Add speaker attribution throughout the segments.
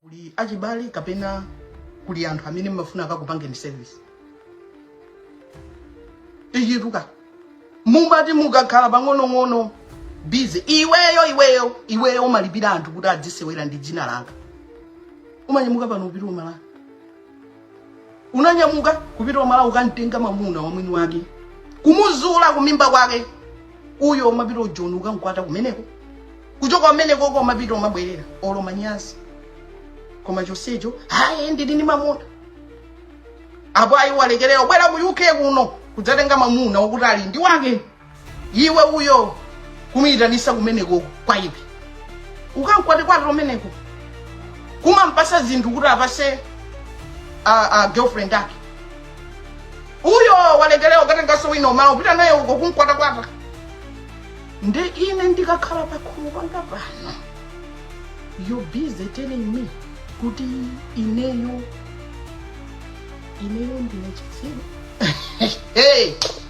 Speaker 1: kuli achibale kapena kuli anthu amene mmafuna akakupangeni service ikituka mumati mukakhala pang'onong'ono busy iweyo iweyo iweyo umalipira anthu kuti adzisewera ndi dzina langa umanyamuka pano upita umala unanyamuka kupita umala ukamtenga mamuna wa mwini wake kumuzula kumimba kwake uyo umapita ujoni ukamkwata kumeneko kuchoka kumeneko uko umapita umabwerera olo manyazi koma chonsecho hayi ndili ndi mamuna apo ayi walekerera ubwera mu UK kuno kudzatenga mamuna wakuti ali ndi wake iwe uyo kumuyitanisa kumeneko kwa iwe ukankwate kwate kumeneko kumampasa zinthu kuti apase a, a girlfriend ake uyo walekelera ukatengaso wina umala upita naye uko kumkwatakwata nde ine ndikakhala pakhomo panga pano you're busy telling me kuti ineyo ineyo ndine chitsiru hey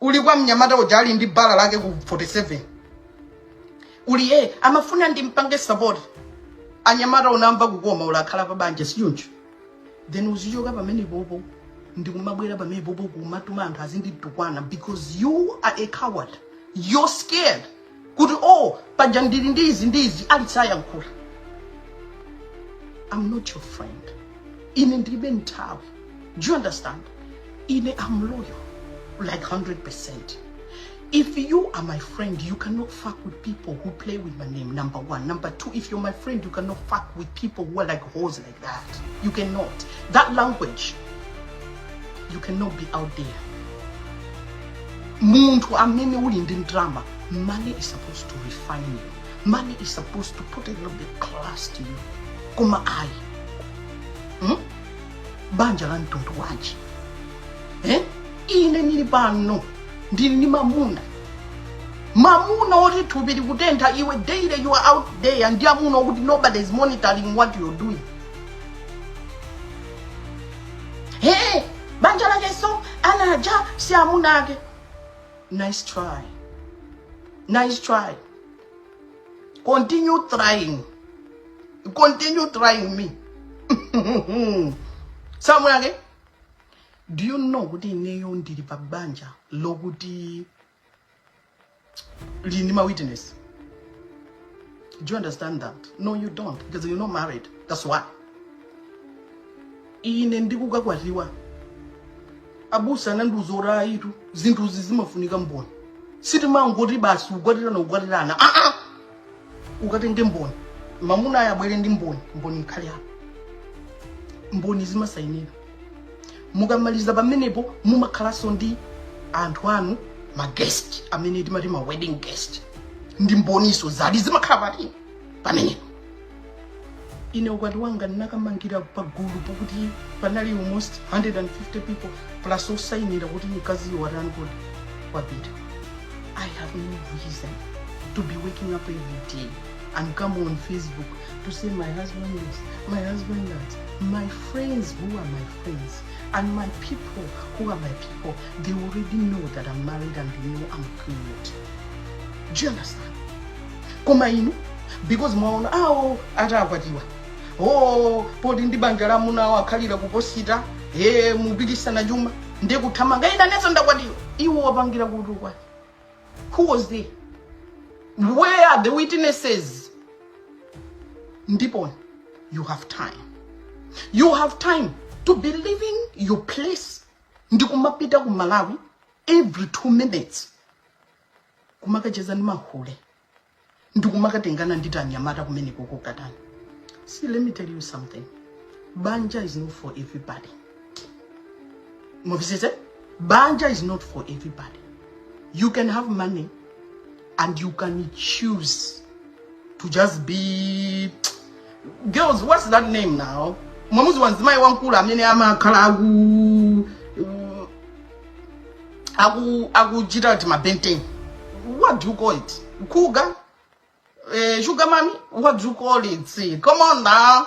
Speaker 1: Uli kwa mnyamata uja ali ndi bar lake ku 47. Uli eh amafuna ndimpange support. Anyamata unamva kukoma uli kukhala pa banja sichoncho. Then uzichoka pamenepopo ndikumabwera pamenepopo kumatuma anthu azinditukwana because you are a coward. You're scared. kuti o oh, panja ndili ndi izi ndi izi ali sayankhula i'm not your friend ine ndilibe nthawi do you understand ine am loyal like 100 percent If you are my friend, you cannot fuck with people who play with my name, number one. Number two, if you're my friend, you cannot fuck with people who are like hoes like that. You cannot. That language, you cannot be out there. Munthu amene uli ndi ndalama. Money is supposed to refine you. Money is supposed to put a little bit class to you. Koma ayi. Hmm? Banja la mtundu wanji. Eh? Ine nili pano. Ndili ndi mamuna. Mamuna woti thupi likutentha iwe daily you are out there ndi amuna okuti nobody is monitoring what you're doing. Hey, banja lakeso anaja si amuna ake. Nice try. Nice try. Continue trying. Continue trying me. Si amunake. Do you know kuti ineyo ndili pa banja lokuti Lili ndi ma witness. Do you understand that? No, you don't, because you're not married. That's why. Ine ndikukakwatiwa. Abusa anandiuza kuti ayitu zinthuzi zimafunika mboni. Sitimangoti basi kukwatirana kukwatirana. Ah ah. ukatenge mboni mamunayo abwere ndi mboni mboni ikhale apo mboni zimasayinira mukamaliza pamenepo mumakhalanso ndi anthu anu ma guest amene timati ma wedding guest ndi mboniso zadi zimakhala pati pamenepo ine ukwati wanga ndinakamangira pagulu pokuti panali almost 150 people plus osayinira kuti mkaziyo watani kodi wapita i have no reason to be waking up every day and come on facebook to say my husband this my husband that my friends who are my friends and my people who are my people they already know that i'm married and they know i'm good do you understand koma inu because mwaona awo atakwatiwa o poti ndi banja la amuna awo akhalira kuposita eh mupikisana chuma ndi kuthamanga ine nanenso ndakwatiwa iwo wapangira kuti ukwati who was there where are the witnesses ndipo you have time you have time to be leaving your place ndikumapita ku malawi every two minutes kumakacheza ndi mahule ndikumakatengana ndi tanyamata kumeneko kokatani see let me tell you something banja is not for everybody mumvetsetse banja is not for everybody you can have money and you can choose to just be girls what's that name now mwamudziwa mzimayi wamkulu amene amakhala aku mm, aku akuchita date ma Ben 10 what do you call it cougar eh, sugar mummy what do you call it See, come on now